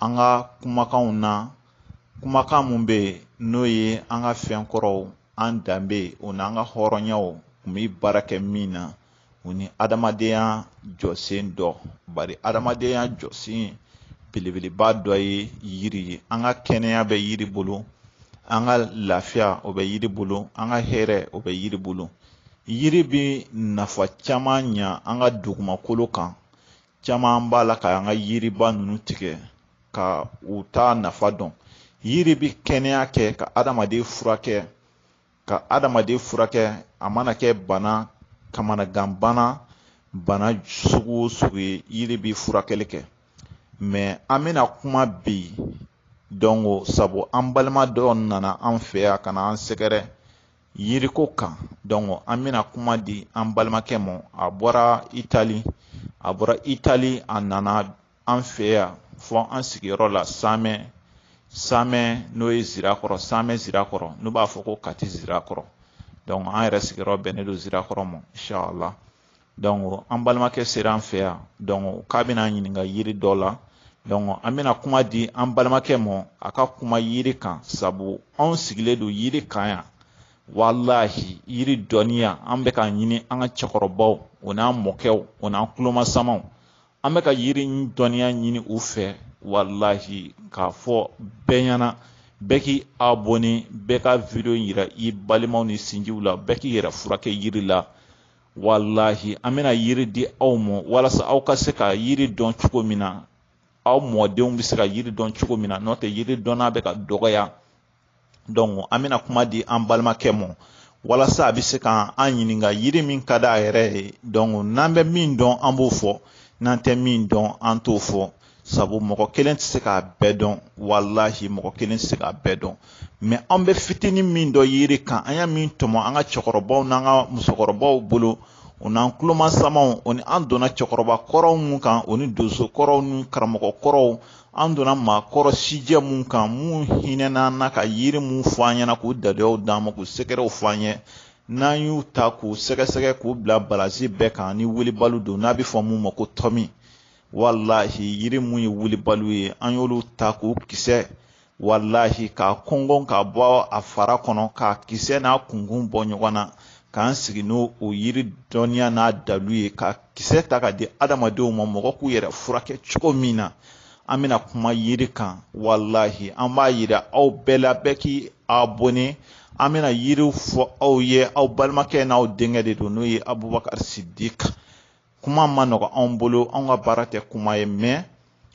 an ka kumakanw na kumakan mun bɛ yen n'o ye an ka fɛn kɔrɔw an danbe o n'an ka hɔrɔnyaw kun bɛ baara kɛ min na o ni adamadenya jɔsen dɔ bari adamadenya jɔsen belebeleba dɔ ye yiri ye an ka kɛnɛya bɛ yiri bolo an ka lafiya o bɛ yiri bolo an ka hɛrɛ o bɛ yiri bolo yiri bɛ nafa caman ɲa an ka dugumakolo kan caman b'a la k'an ka yiriba ninnu tigɛ ka u t'a nafa dɔn yiri bɛ kɛnɛya kɛ ka adamaden furakɛ ka adamaden furakɛ a mana kɛ bana kamanagan bana bana sugu o sugu ye yiri bɛ furakɛli kɛ mais an bɛna kuma bi donc sabu an balima dɔ nana an fɛ yan ka na an sɛgɛrɛ yiriko kan donc an bɛna kuma di an balimakɛ ma a bɔra itali a bɔra itali a nana an fɛ yan fɔ an sigiyɔrɔ la samɛ samɛ n'o ye zirakɔrɔ samɛ zirakɔrɔ n'u b'a fɔ ko kati zirakɔrɔ donc an yɛrɛ sigiyɔrɔ bɛnnen don zirakɔrɔ ma inshallah donc an balimakɛ sera an fɛ yan donc k'a bɛna an ɲininka yiri dɔ la donc an bɛna kuma di an balimakɛ mɔ a ka kuma yiri kan sabu anw sigilen don yiri kan yan walahi yiri dɔnniya an bɛ ka ɲini an ka cɛkɔrɔbaw o n'an mɔkɛw o n'an tulomasamaw an bɛ ka yiri dɔnniya ɲini u fɛ walahi k'a fɔ bɛɛ ɲɛna bɛɛ k'i abɔne bɛɛ ka video yira i balimaw n'i sinjiw la bɛɛ k'i yɛrɛ furakɛ yiri la walahi an bɛna yiri di aw ma walasa aw ka se ka yiri dɔn cogo min na aw mɔdenw bɛ se ka yiri dɔn cogo min na n'o tɛ yiri dɔnna bɛ ka dɔgɔya donc an bɛna kuma di an balimakɛ ma walasa a bɛ se ka an ɲininka yiri min ka di a yɛrɛ ye donc n'an bɛ min dɔn an b'o fɔ n'an tɛ min dɔn an t'o fɔ sabu mɔgɔ kelen tɛ se k'a bɛɛ dɔn walahi mɔgɔ kelen tɛ se k'a bɛɛ dɔn mais an bɛ fitinin min dɔn yiri kan an ye min tɔmɔ an ka cɛkɔrɔbaw n'an ka musokɔrɔbaw bolo o n'an tulomasamaw o ni an donna cɛkɔrɔba kɔrɔw mun kan o ni donso kɔrɔw ni karamɔgɔ kɔrɔw an donna maakɔrɔ sijɛ mun kan mun hinɛna an na ka yiri mun fɔ an ɲɛna k'u dadeyaw d'an ma k'u sekerɛw fɔ an ye n'an y'u ta k'u sɛgɛsɛgɛ k'u bila balansi bɛɛ kan ni wulibali don n'a bɛ fɔ mun ma ko tɔmi walahi yiri mun ye wulibaliw ye an y'olu ta k'u kisɛ walahi k'a kɔngɔn ka bɔ a fara kɔnɔ k'a kisɛ n'a kunkun bɔ ɲɔgɔn na k'an sigi n'o o yiri dɔnniya n'a dalu ye k'a kisɛ ta k'a di adamadenw ma mɔgɔw k'u yɛrɛ furakɛ cogo min na an bɛna kuma yiri kan walahi an b'a yira aw bɛɛ la bɛɛ k'i abɔne an bɛna yiriw fɔ aw ye aw balimakɛ n'aw denkɛ de don n'o ye abubakari sidiki kuma man nɔgɔn anw bolo anw ka baara tɛ kuma ye mɛ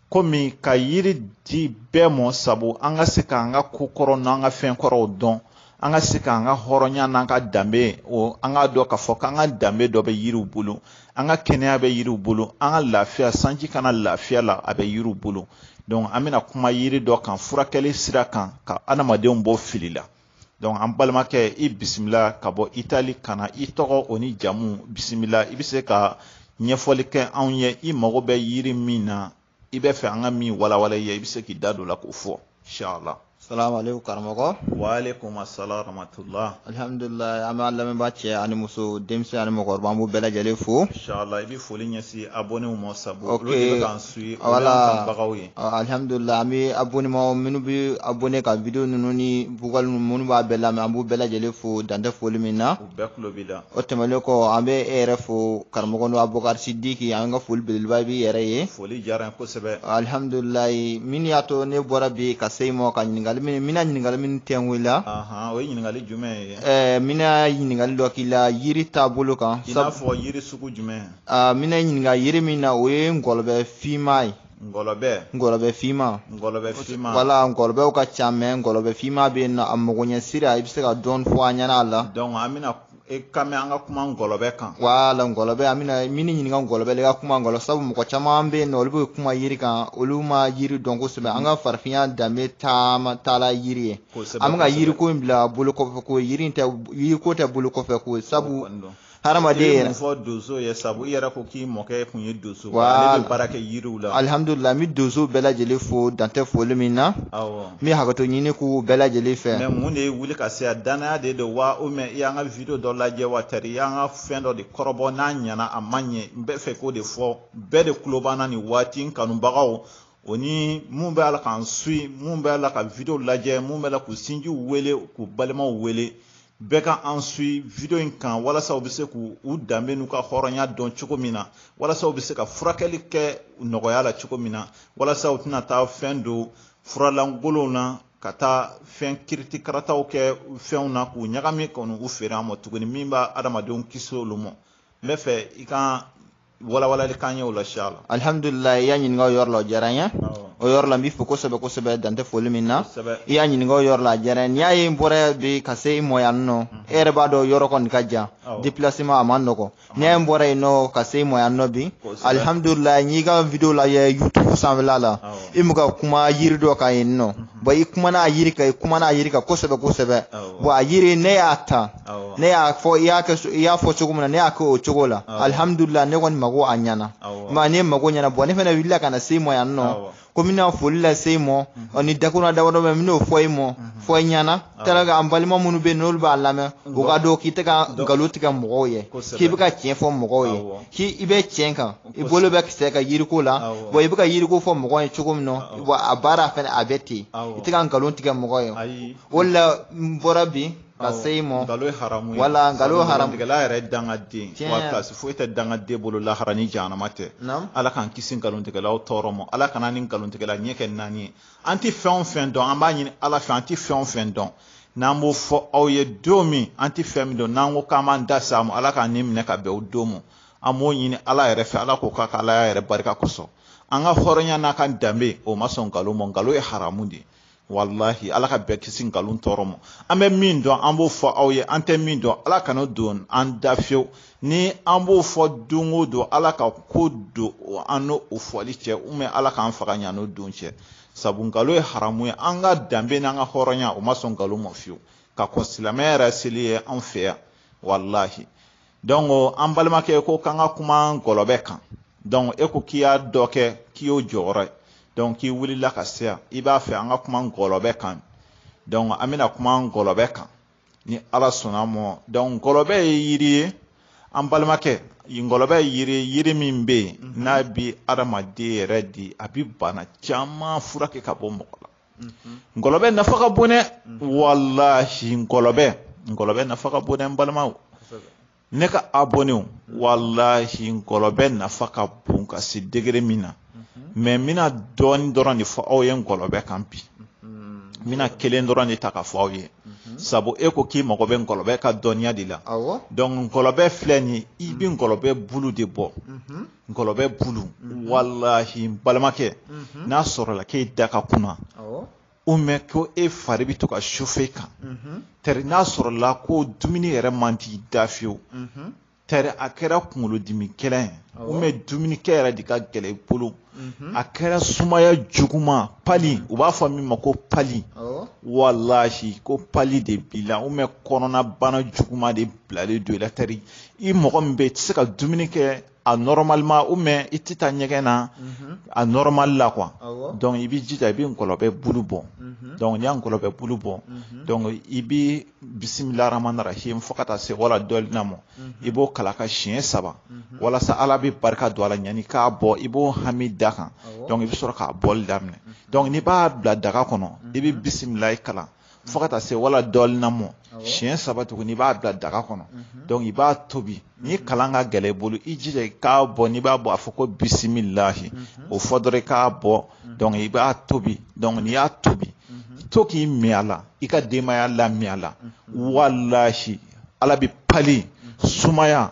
komi ka yiri di bɛɛ mɔ sabu an ka se k'an ka ko kɔrɔ n'an ka fɛn kɔrɔw dɔn an ka se k'an ka hɔrɔnya n'an ka danbe o an k'a dɔn k'a fɔ k'an ka danbe dɔ bɛ yiriw bolo an ka kɛnɛya bɛ yiriw bolo an ka lafiya sanji ka na lafiya la a bɛ yiriw bolo donc an bɛna kuma yiri dɔ kan furakɛli sira kan ka adamadenw bɔ fili la donc an balimakɛ i bisimila ka bɔ itali ka na i tɔgɔ o ni jamu bisimila i bɛ se ka ɲɛfɔli kɛ anw ye i mago bɛ yiri min na i bɛ fɛ an ka min walawala i ye i bɛ se k'i da don o la k'o fɔ inshallah salamaleykum karamɔgɔ waaleykum assalam rahmatullah alhamdulilayi an b'a lamɛnbaa cɛ ani muso denmisɛn ani mɔgɔkɔrɔba an b'u bɛɛ lajɛlen fo inshallah i bɛ foli ɲɛsin abonnéw ma sabu olu de bɛ k'an su ye wala bagaw ye alihamdulila an bɛ abonema minnu bɛ abonné ka video ninnu ni vocali ninnu minnu b'a bɛɛ lamɛn an b'u bɛɛ lajɛlen fo dan tɛ foli min na u bɛɛ tulo b'i la o tɛmɛnen kɔ an bɛ e yɛrɛ fo karamɔgɔ n'o abubakari sidiki an ka foli belebeleba b'i yɛrɛ ye foli diyara n ye kosɛbɛ alihamdulilayi min y'a to ne bɔra bi ka se i ma ka ɲininkali min n bɛna ɲininkali min de k'i la ahan o ye ɲininkali jumɛn ye ɛɛ n bɛna ɲininkali dɔ k'i la yiri taabolo kan i n'a fɔ yiri sugu jumɛn aa n bɛna ɲininka yiri min na o ye ngɔlɔbɛ finma ye ngɔlɔbɛ ngɔlɔbɛ finma ngɔlɔbɛ finma wala ngɔlɔbɛw ka ca mɛ ngɔlɔbɛ finma bɛ yen nɔ a magoɲɛ sira i bɛ se ka dɔɔni fɔ an ɲɛna a la donc an bɛna e ka mɛn an ka kuma ngɔlɔbɛ kan wala ngɔlɔbɛ an bɛna min ɲininka ngɔlɔbɛ la i ka kuma ngɔlɔ sabu mɔgɔ caman bɛ yen nɔ olu bɛ kuma yiri kan olu ma yiri dɔn kosɛbɛ an ka farafinya danbe taama taala yiri ye an bɛ ka yiriko in bila bolo kɔfɛ ko yiri tɛ yiriko tɛ bolo kɔfɛ ko sabu hadamaden yɛrɛ fɔ donso ye sabu i yɛrɛ ko k'i mɔkɛ kun ye donso ale bɛ baara kɛ yiriw la alihamudulila n bɛ donso bɛɛ lajɛlen fo dan tɛ foli min na awɔ n bɛ hakɛto ɲini k'u bɛɛ lajɛlen fɛ mɛ mun de y'i wuli ka se yan danaya de don wa o mɛ i y'an ka video dɔ lajɛ wa tari i y'an ka fɛn dɔ de kɔrɔbɔ n'a ɲɛna a ma ɲɛ n b'a fɛ k'o de fɔ bɛɛ de tulo b'an na nin waati n kanubagaw o ni mun b'a la k'an suit mun b'a la ka video lajɛ mun b'a la k'u sinjiw wele k'u balimaw wele bɛɛ ka an sui video in kan walasa u bɛ se k'u danbe n'u ka hɔrɔnya dɔn cogo min na walasa u bɛ se ka furakɛli kɛ nɔgɔya la cogo min na walasa u tɛna taa fɛn don fura lankolonw na ka taa fɛn kiritikarataw kɛ fɛnw na k'u ɲagami ka n'u feere an ma tuguni min bɛ adamadenw kisi olu ma n bɛ fɛ i ka walawalali k'an ye o la inshallah alhamdulillah i y'a ɲininka o yɔrɔ la o diyara n ye o yɔrɔ la n b'i fo kosɛbɛ kosɛbɛ dan tɛ foli min na i y'a ɲininka o yɔrɔ la a diyara n ye n'i y'a ye n bɔra bi ka se i mɔ yan nɔ e yɛrɛ b'a dɔn yɔrɔ kɔni ka jan déplacement a man nɔgɔn n'i y'a ye n bɔra yen nɔ ka se i mɔ yan nɔ bi alhamdulillah n y'i ka video lajɛ youtube sanfɛla la i mu ka kuma yiri dɔ kan yen nɔ bon i kumana a yiri kan i kumana a yiri kan kosɛbɛ kosɛbɛ bon a yiri ne y'a ta ne y'a fɔ i y'a kɛ i y'a fɔ cogo min na ne y'a kɛ o cogo la alihamudulila ne kɔni mago a ɲɛna ma ne mago ɲɛna bɔn ne fana wulila ka na se i mɔ yan nɔ ko n bɛna foli lase i mɔ ɔ ni dakurun damadɔ bɛ n bɛn'o fɔ i mɔ fɔ i ɲɛna tɛra ka an balima minnu bɛ yen n'olu b'a lamɛn o k'a dɔn k'i tɛ ka nkalon tigɛ mɔgɔw ye k'i bɛ ka tiɲɛ fɔ mɔgɔw ye k'i i bɛ tiɲɛ kan i bolo bɛ kisɛ ka yiriko la bɔn i bɛ ka yiriko fɔ mɔgɔ ye cogo min na bɔn a baara fana a bɛ ten i tɛ ka nkalon tigɛ mɔgɔ ye o la n bɔra bi ka se i mɔ nkalon ye haramu ye walahi nkalon ye haramu tigɛla yɛrɛ ye dangaden wa pilasi foyi tɛ dangaden bolo lahara ni jahanama tɛ ala k'an kisi nkalontigɛlaw tɔɔrɔ ma ala kan'an ni nkalontigɛla ɲɛ kɛ naani ye an tɛ fɛn o fɛn dɔn an b'a ɲini ala fɛ an tɛ fɛn o fɛn dɔn n'an b'o fɔ aw ye don min an tɛ fɛn min dɔn n'an ko k'an b'an da s'a ma ala k'an ni minɛ ka bɛn o don ma an b'o ɲini ala yɛrɛ fɛ ala k'o k'a ka ala yɛrɛ barika kosɔn an ka hɔrɔnya n'an ka danbe o ma sɔn nkalon ma nkalon ye haramu de ye walahi ala ka bɛɛ kisi nkalon tɔɔrɔ ma an bɛ min dɔn an b'o fɔ aw ye an tɛ min dɔn ala kan'o don an da fiyewu ni an b'o fɔ don o don ala ka ko don an ni o fɔli cɛ ubiyɛn ala k'an faga ɲan'o don cɛ sabu nkalon ye haramu ye an ka danbe n'an ka hɔrɔnya o ma sɔn nkalon ma fiyewu ka kɔn silamɛya yɛrɛ seli ye an fɛ yan walahi donc an balimakɛ ko k'an ka kuma ngɔlɔbɛ kan donc e ko k'i y'a dɔ kɛ k'i y'o jɔyɔrɔ ye donc k'i wulila ka se yan i b'a fɛ an ka kuma ngɔlɔbɛ kan donc an bɛna kuma ngɔlɔbɛ kan ni ala sɔnna mɔ donc ngɔlɔbɛ ye yiri ye an balimakɛ ngɔlɔbɛ ye yiri ye yiri min bɛ yen mhm. n'a bi adamaden yɛrɛ di a bi bana caman furakɛ ka bɔ mɔgɔ la ngɔlɔbɛ nafa ka bon dɛ walahi ngɔlɔbɛ ngɔlɔbɛ nafa ka bon dɛ n balimaw ne ka abɔnenw walahi ngɔlɔbɛ nafa ka bon ka se degere min na mɛ n bɛna dɔɔni dɔrɔn de fɔ aw ye ngɔlɔbɛ kan bi n bɛna kelen dɔrɔn de ta ka fɔ aw ye sabu e ko k'i mago bɛ ngɔlɔbɛ ka dɔnniya de la donc ngɔlɔbɛ filɛ nin ye i bɛ ngɔlɔbɛ bulu de bɔ ngɔlɔbɛ bulu mhm. walahi balimakɛ mhm. n'a sɔrɔla k'e da ka kunan u mɛ ko e fari bɛ to ka sufe kan mhm. tari n'a sɔrɔla ko dumuni yɛrɛ man d'i da fiyewu tari a kɛra kunkolodimi gɛlɛ ye u mɛ dumunikɛ yɛrɛ de ka gɛlɛ i bolo a kɛra sumaya juguman pali u b'a fɔ min ma ko pali walahi ko pali de b'i la u mɛ kɔnɔna bana juguman de bilalen don i la tari i mɔgɔ min bɛ i tɛ se ka dumuni kɛ a nɔrɔmalima u mɛ i tɛ taa ɲɛgɛn na mhm. a nɔrɔmali la kuwa dɔnku i bɛ jija i bɛ ngɔlɔbɛ bulu bɔ mhm. dɔnku n'i y'a ngɔlɔbɛ bulu bɔ mhm. dɔnku i bɛ bisimila ramana rahim fo ka taa se waladɔlina mɔ i b'o kalan ka siɲɛ saba walasa ala bɛ barika don a la ɲani k'a bɔ i b'o hami d'a kan dɔnku i bɛ sɔrɔ k'a bɔli daminɛ dɔnku n'i b'a bila daga kɔnɔ i bɛ bisimila kalan fo ka taa se wala dɔɔnin na mɔ siɲɛ saba tuguni i b'a bila daga kɔnɔ mhm. i b'a tobi mhm. ni kalan ka gɛlɛn i bolo i jija i k'a bɔ n'i b'a bɔ a fɔ ko bisimilahi mhm. o fɔ dɔrɔn i k'a bɔ i b'a tobi n'i y'a tobi to k'i min a la i ka denbaya la min a la walahi ala bɛ pali sumaya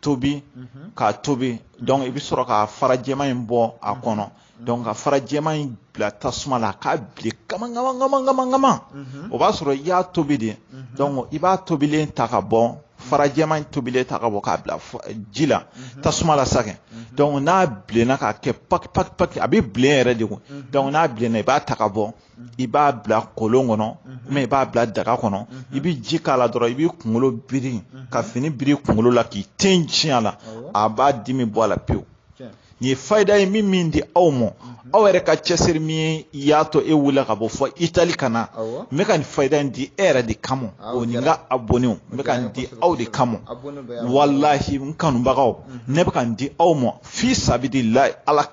tobi mhm. k'a tobi mhm. donc i bɛ sɔrɔ ka fara jɛman in bɔ a mhm. kɔnɔ donc ka fara jɛman in bila tasuma la k'a bilen kama kama kama kama kama o b'a sɔrɔ i y'a tobi de donc i b'a tobilen ta ka bɔ fara jɛman in tobilen ta ka bɔ k'a bila ji la tasuma la sakɛ donc n'a bilenna k'a kɛ paki paki paki a bɛ bilen yɛrɛ de kun donc n'a bilenna i b'a ta ka bɔ i b'a bila kolon kɔnɔ mɛ i b'a bila daga kɔnɔ i bɛ ji k'a la dɔrɔn i b'i kunkolo biri ka fini biri kunkolo la k'i ten tiɲɛ a la a b'a dimi bɔ a la pewu nin ye faida ye min min di aw ma aw yɛrɛ ka cɛsiri min ye i y'a to e wulila ka bɔ fo itali ka na n bɛ ka nin fa in di e yɛrɛ de kama o ni n ka abɔnew n bɛ ka nin di aw de kama walahi n kanubagaw ne bɛ ka nin di aw ma fi sabilila ala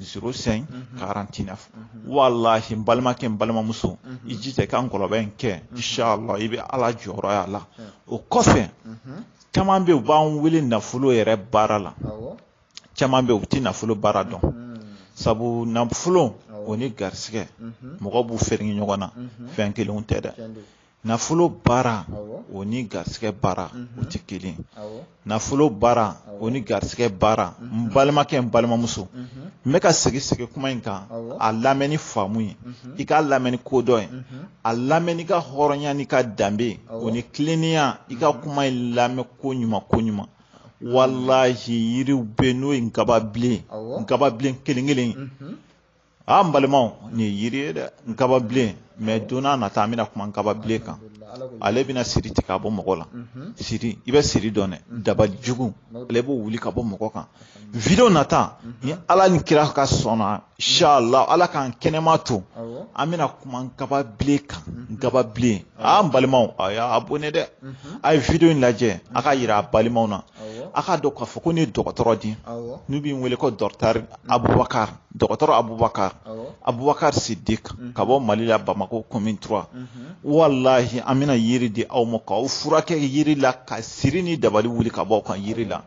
zero sɛn karanti nɛf walahi n balimakɛ n balimamuso i jija i ka nkɔlɔbɛ in kɛ inshallah i bɛ ala jɔyɔrɔ y'a la o kɔfɛ caman bɛ yen u b'an wele nafolo yɛrɛ baara la caman bɛ yen u tɛ nafolo baara dɔn sabu nafolo o ni garisigɛ mɔgɔ b'u fereke ɲɔgɔn na fɛn kelenw tɛ dɛ nafolo baara o ni garisɛgɛ baara o tɛ kelen nafolo baara o ni garisɛgɛ baara n balimakɛ n balimamuso n bɛ ka segin segin kuma in kan a lamɛn ni faamu ye i k'a lamɛn ni kodɔn ye a lamɛn n'i ka hɔrɔnya n'i ka danbe o ni tilennenya i ka kuma in lamɛn koɲuman koɲuman walahi yiriw bɛ n'o ye nkababilen nkababilen kelen kelen a an balimaw nin ye yiri ye dɛ nkababilen mɛ don nata an bɛna kuma nkababilen kan ale bɛna siri tigɛ ka bɔ mɔgɔ la siri i bɛ siri dɔn dɛ dabali jugu ale b'o wuli ka bɔ mɔgɔ kan video nata ni ala ni kira ka sɔnna sala ala k'an kɛnɛma to an bɛna kuma nkababilen kan nkababilen a an balimaw a y'abɔne dɛ a ye video in lajɛ a k'a yira a balimaw na a k'a dɔn k'a fɔ ko ne ye dɔgɔtɔrɔ di n'u b'i wele ko dɔkitari abubakari dɔgɔtɔrɔ abubakar abubakar sidik mhm. ka bɔ mali la bamako commune trois mhm. walahi an bɛna yiri di aw ma k'aw furakɛ yiri la ka siri ni dabali wuli ka bɔ aw kan yiri la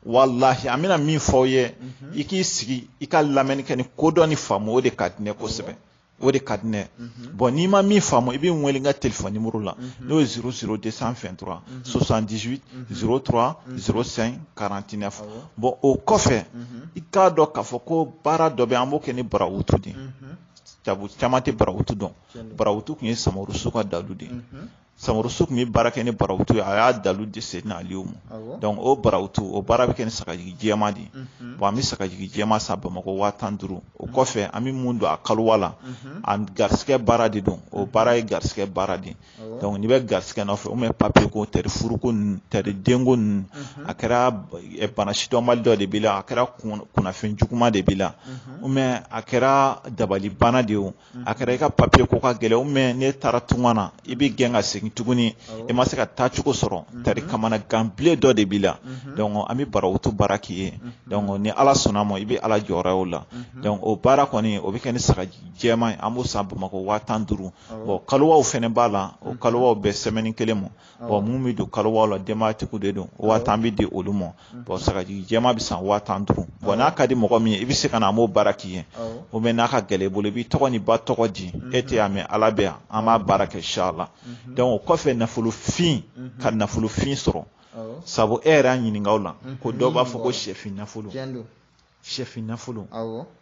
walahi an bɛna min fɔ aw ye mhm. i k'i sigi i ka lamɛnni kɛ ni kodɔn ni faamu o de ka di n ye kosɛbɛ o de ka di n ye bɔn n'i ma min faamu i bɛ n wele n ka telefɔni nimɔrɔ la n'o ye zéro zéro deux cent vingt-trois soixante-dix zéro trois zéro cinq quarante-neuf bɔn o kɔfɛ i k'a dɔn k'a fɔ ko baara dɔ bɛ an b'o kɛ ni barawutu de ye caman tɛ barawutu dɔn barawutu tun ye samurusu ka dalu de ye samurusu tun bɛ baara kɛ ni barawutu ye a y'a dalu de se n'alew ma o barawutu o baara bɛ kɛ ni sagajigi jɛma de ye an bɛ sagajigi jɛma san bamakɔ waa tan duuru o kɔfɛ an bɛ mun don a kalowa la a garisɛgɛ baara de don o baara ye garisɛgɛ baara de n'i bɛ garisɛgɛ nɔfɛ o bɛ papiye ko tɛ furuko tɛ denko ninnu a kɛra bana sidɔnbali dɔ de b'i la a kɛra kunnafɛn juguma de b'i la a kɛra dabalibana de ye a kɛra i ka papiye ko ka gɛlɛn mɛ n'e taara tunga na i bɛ gɛn ka segin tuguni i ma se ka taa cogo sɔrɔ tari kamanagan bilen dɔ de b'i la an bɛ barawutu baara k'i ye ni ala sɔnna ma i bɛ ala jɔyɔrɔ ye o la o baara kɔni o bɛ kɛ ni sagajigi jɛma ye an b'o san bamakɔ waa tan duuru kalowaw fana b'a la o kalowaw bɛɛ sɛmɛni kelen ma bɔn mun bɛ don kalowa la denbayatigiw de don waa tan bɛ di olu ma bɔn sagajigi jɛma bɛ san waa tan duuru bɔn n'a ka di mɔgɔ min ye i bɛ se ka na an b'o baara k'i ye o mɛ n'a ka gɛlɛn i bolo i b'i tɔgɔ n'i ba tɔgɔ di e tɛ yan mɛ ala bɛ yan an b'a baara kɛ sa la dɔnku o kɔfɛ nafolofin ka nafolofin sɔrɔ sabu e yɛrɛ y'a ɲininka o la ko dɔw b'a fɔ ko sɛfin nafolo sɛfin nafolo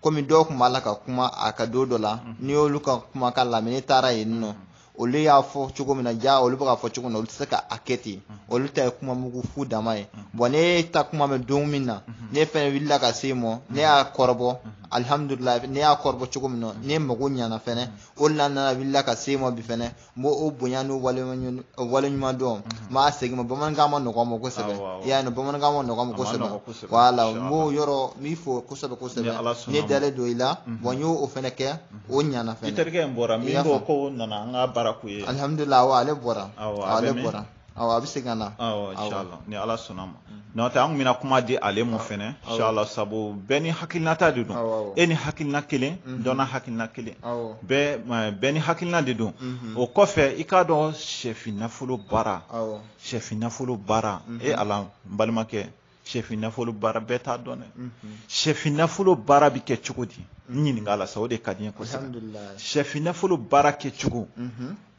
komi dɔw tun b'a la ka kuma a ka don dɔ la mhm. ne y'olu ka kumakan lamɛn ne taara yen nɔ mhm. olu y'a fɔ cogo min na ja olu bɛ k'a fɔ cogo min na olu tɛ se ka a kɛ ten mhm. olu ta ye kuma mugu fu dama ye bɔn ne y'e ta kuma mɛn don min na ne fɛnɛ wulila ka s'e mɔ ne y'a kɔrɔbɔ alihamudulila ne y'a kɔrɔbɔ cogo min na ne mago ɲana fɛnɛ o de la n nana wulila ka s'e mɔ bi fɛnɛ n b'o o bonya n'o waleɲuman o waleɲuman dɔn n b'a segin i ma bamanankan man nɔgɔ n ma kosɛbɛ Awɔ, awɔ. i y'a ye bamanankan man nɔgɔ n ma A man kosɛbɛ nɔgɔ kosɛbɛ, voilà n inchallah. b'o yɔrɔ n b'i fo kosɛbɛ Ni kosɛbɛ Ala sɔnna ne ma. dalen don i la bɔn n y'o o fɛnɛ kɛ o ɲana i fɛnɛ terikɛ in bɔra I min y'a ko faamu. ko o nana an ka baara k'u ye alihamudulila awɔ ale bɔra Awɔ, a bɛ ale min? bɔra Awɔ a bɛ segin ka na. Awɔ inshallah ni Ala sɔnna ma. N'o tɛ an tun bɛna kuma di ale ma fɛnɛ inshallah sabu bɛɛ n'i hakilinata de don. E n'i hakilina kelen dɔ n'a hakilina kelen. Bɛɛ bɛɛ n'i hakilina de don. O kɔfɛ i k'a dɔn sɛfin nafolo baara sɛfin nafolo baara e Ala n balimakɛ sɛfin nafolo baara bɛɛ t'a dɔn dɛ. Sɛfin nafolo baara bɛ kɛ cogo di? N ɲininka a la sa o de ka di n ye kosɛbɛ. Sɛfin nafolo baara kɛcogo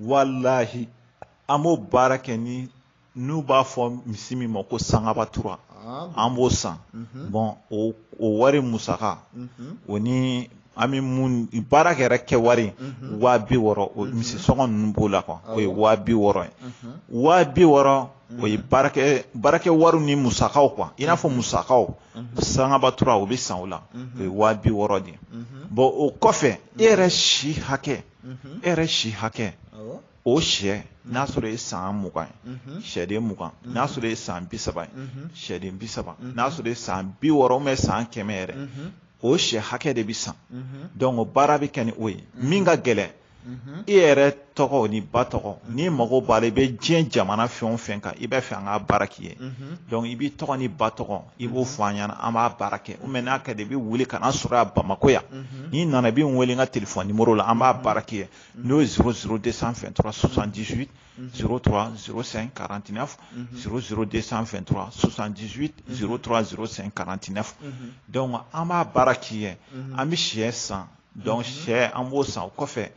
walahi an b'o baara kɛ ni n'u b'a fɔ misi min ma ko sangaba tura ah, an b'o san mhm. bɔn o wari musaka mhm. o ni an bɛ mun baarakɛla ka wari mhm. waa bi wɔɔrɔ o misi sɔngɔ ninnu b'o la kuwa o ye waa bi wɔɔrɔ ye waa bi wɔɔrɔ o ye baarakɛ baarakɛ wariw ni musakaw kuwa i n'a fɔ musakaw sangaba tura o bɛ san o la o ye waa bi wɔɔrɔ de ye bɔn o kɔfɛ e yɛrɛ si hakɛ e yɛrɛ si hakɛ o shɛ n'a mhm. sɔrɔ ye san mugan ye mhm. shɛden mugan mhm. n'a sɔrɔ ye san bi saba ye shɛden bi saba n'a sɔrɔ ye san bi wɔɔrɔ mɛ san kɛmɛ yɛrɛ o shɛ hakɛ de bɛ san dɔnku o baara bɛ kɛ ni o ye min ka gɛlɛn i yɛrɛ tɔgɔ n'i ba tɔgɔ n'i mago b'a la i bɛ diɲɛ jamana fɛn o fɛn kan i b'a fɛ an ka baara k'i ye dɔnku i b'i tɔgɔ n'i ba tɔgɔ i b'o fɔ an ɲɛna an b'a baara kɛ mɛ n'a ka d'i ye i bɛ wuli ka na n sɔrɔ a bamakɔ yan n'i nana i bɛ n wele n ka telefɔni nimoro la an b'a baara k'i ye n'o ye zéro zéro deux cent vingt-trois soixante-dix-huit zéro trois zéro cinq quarante-neuf zéro zéro deux cent vingt-trois soixante-dix-huit zéro trois zéro cinq quarante-neuf dɔnku an b'a baara k'i ye an bɛ shɛ san dɔnku shɛ an b'o san o kɔfɛ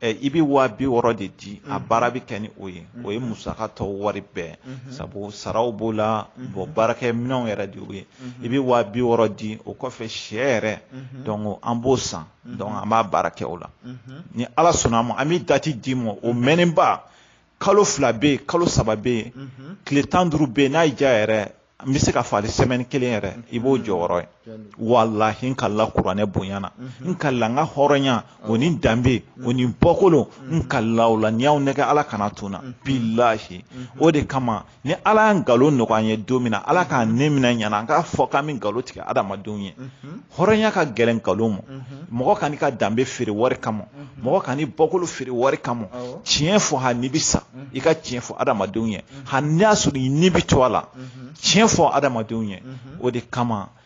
i bɛ waa bi wɔɔrɔ de di a baara bɛ kɛ ni o ye o ye musaka tɔ wari bɛɛ sabu saraw b'o la bɔn baarakɛ minɛnw yɛrɛ de ye i bɛ waa bi wɔɔrɔ di o kɔfɛ shɛ yɛrɛ dɔnku an b'o san an b'a baara kɛ o la ni ala sɔnna a ma an bɛ dati d'i ma o mɛnnenba kalo fila bɛ yen kalo saba bɛ yen tile tan duuru bɛ yen n'a y'i diya yɛrɛ n bɛ se k'a fɔ hali sɛmɛni kelen yɛrɛ i b'o jɔyɔrɔ ye walayi n kalila kuranɛ bonya na n kalila n ka hɔrɔnya o ni danbe o ni bɔkolo n kalila o la ni n y'aw nɛgɛn ala kana to n na bilahi o de kama ni ala ye nkalon nɔgɔya an ye don min na ala k'an ni minɛ yanni an k'a fɔ k'an bɛ nkalon tigɛ adamadenw ye hɔrɔnya ka gɛlɛn nkalon ma mɔgɔ kan'i ka danbe feere wari kama mɔgɔ kan'i bɔkolo feere wari kama tiɲɛ fɔ hali n'i bɛ sa i ka tiɲɛ fɔ adamadenw ye hali n'a sɔrɔ i ni bɛ to a la tiɲɛ fɔ adamadenw ye o de kama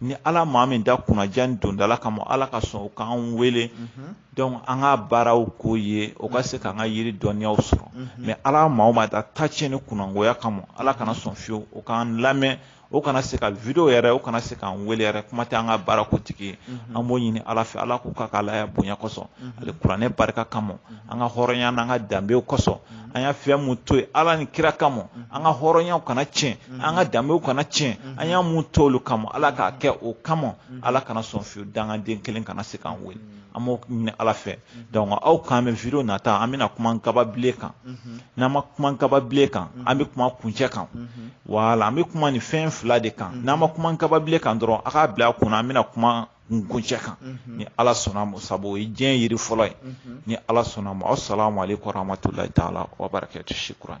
ni ala maa min da kunnandiya ni dondala kama ala ka sɔn o k'an wele dɔnku an ka baaraw k'o ye o ka se k'an ka yiri dɔnniyaw sɔrɔ mɛ ala maa min da ta tiɲɛ ni kunnagoya kama ala kana sɔn fiyewu o k'an lamɛn o kana se ka video yɛrɛ o kana se k'an wele yɛrɛ kuma tɛ an ka baara k'o tigi ye an b'o ɲini ala fɛ ala k'o kɛ k'a la bonya kosɔn alikuranɛ barika kama an ka hɔrɔnya n'an ka danbew kosɔn mhm. an y'a fɛn min to yen ala ni kira kama mhm. an ka hɔrɔnyaw kana tiɲɛ mhm. an ka danbew kana tiɲɛ an y'a min to olu kama ala k'a kɛ o kama ala kana sɔn fiyewu dangaden kelen kana se k'an wele an b'o ɲini ala fɛ donc an ka video nata an bɛna kuma kaba bilen kan n'an ma kuma kaba bilen kan an bɛ kuma kunjɛ kan wala an bɛ kuma nin fɛn fila de kan n'an ma kuma kaba bilen kan dɔrɔn a k'a bila a kunna an bɛna kuma n kuncɛ kan ni ala sɔnna ma sabu o ye diɲɛ yiri fɔlɔ ye ni ala sɔnna ma asalamu aleykum warahmatulahi taala wabarakatu shikuran